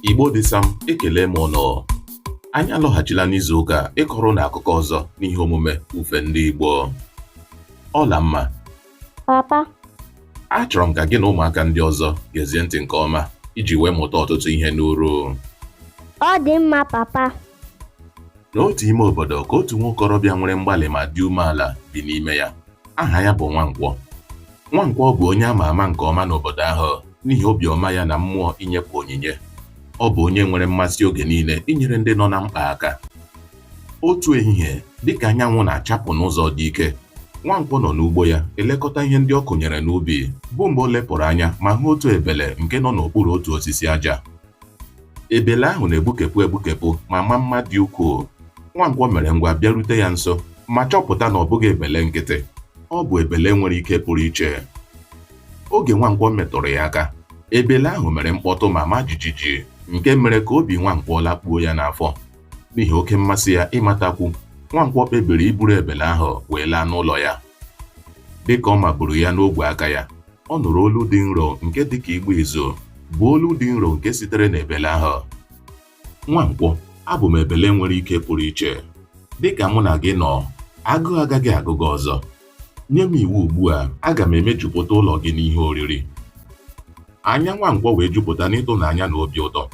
Igbo dịsam ekele m ụnụ anyị alọghachila n'izu ụka a ịkọrọ ụnụ akụkọ ọzọ n'ihe omume ufe ndị Igbo Ọlamma papa achọrọ m ka gị na ụmụaka ndị ọzọ gezie ntị nke ọma iji wee mụta ọtụtụ ihe n'uru ọ dị mma papa N'otu ime obodo ka otu nwokorobịa nwere mgbalị ma dị umeala bi n'ime ya. Aha ya bụ Nwankwọ. Nwankwọ bụ onye a ma ama nke ọma n'obodo ahụ n'ihi obi ọma ya na mmụọ inyepụ onyinye. Ọ bụ onye nwere mmasị oge niile inyere ndị nọ na mkpa aka. Otu ehihie, dị ka anyanwụ na-achapụ n'ụzọ dị ike, Nwankwọ nọ n'ugbo ya elekọta ihe ndị ọ kụnyere n'ubi, bụ mgbe o lepụrụ anya ma hụ otu ebele nke nọ n'okpuru otu osisi aja. Ebele ahụ na-egbukepụ egbukepụ ma maa mma dị ukwuu. Nwankwọ mere ngwa bịarute ya nso ma chọpụta na ọ bụghị ebele nkịtị. Ọ bụ ebele nwere ike pụrụ iche. Oge Nwankwọ metụrụ ya aka, ebele ahụ mere mkpọtụ ma maa jijiji nke mere ka obi Nwankwọ lakpuo ya n'afọ. N'ihi oke mmasị ya ịmatakwu, Nwankwọ kpebiri iburu ebele ahụ wee laa n'ụlọ ya. Dịka ọ maburu ya n'ogwe aka ya, ọ nụrụ olu dị nro nke dị ka ịgba izu, bụ olu dị nro nke sitere n'ebele ahụ. Nwankwọ, abụ m ebele nwere ike pụrụ iche. Dịka mụ na gị nọ, agụụ agaghị agụ gị ọzọ. Nye m iwu ugbu a, aga m emejupụta ụlọ gị n'ihe oriri. Anya Nwankwọ wee jupụta n'ịtụnanya na obi ụtọ.